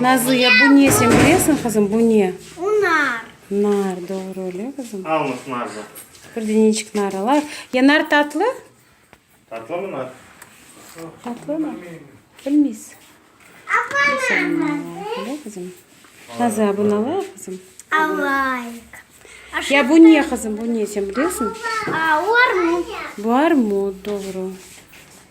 Nazıya, bu ne, sen bilesiñ, qızım, bu ne? Bu nar. Nar, doğru, öyle, qızım? Alınız narda. Bir de neçik nar alayıq. Ya nar tatlı? Tatlı mı nar? Tatlı mı? Bilmiyiz. Öyle, qızım? Nazıya, bunu alayıq, qızım? Alayıq. Ya bu ne, qızım, bu ne, sen bilesiñ? Bu armut. Bu armut, doğru.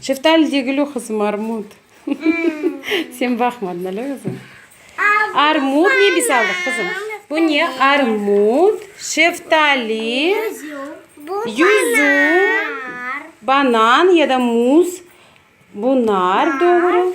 Şeftali degil o, qızım, armut. Sen baqmadın ale özün. Armut ne biz aldıq, qızım? Bu ne? Armut, şeftali, yüzüm, banan ya da muz. Bu nar, doğru.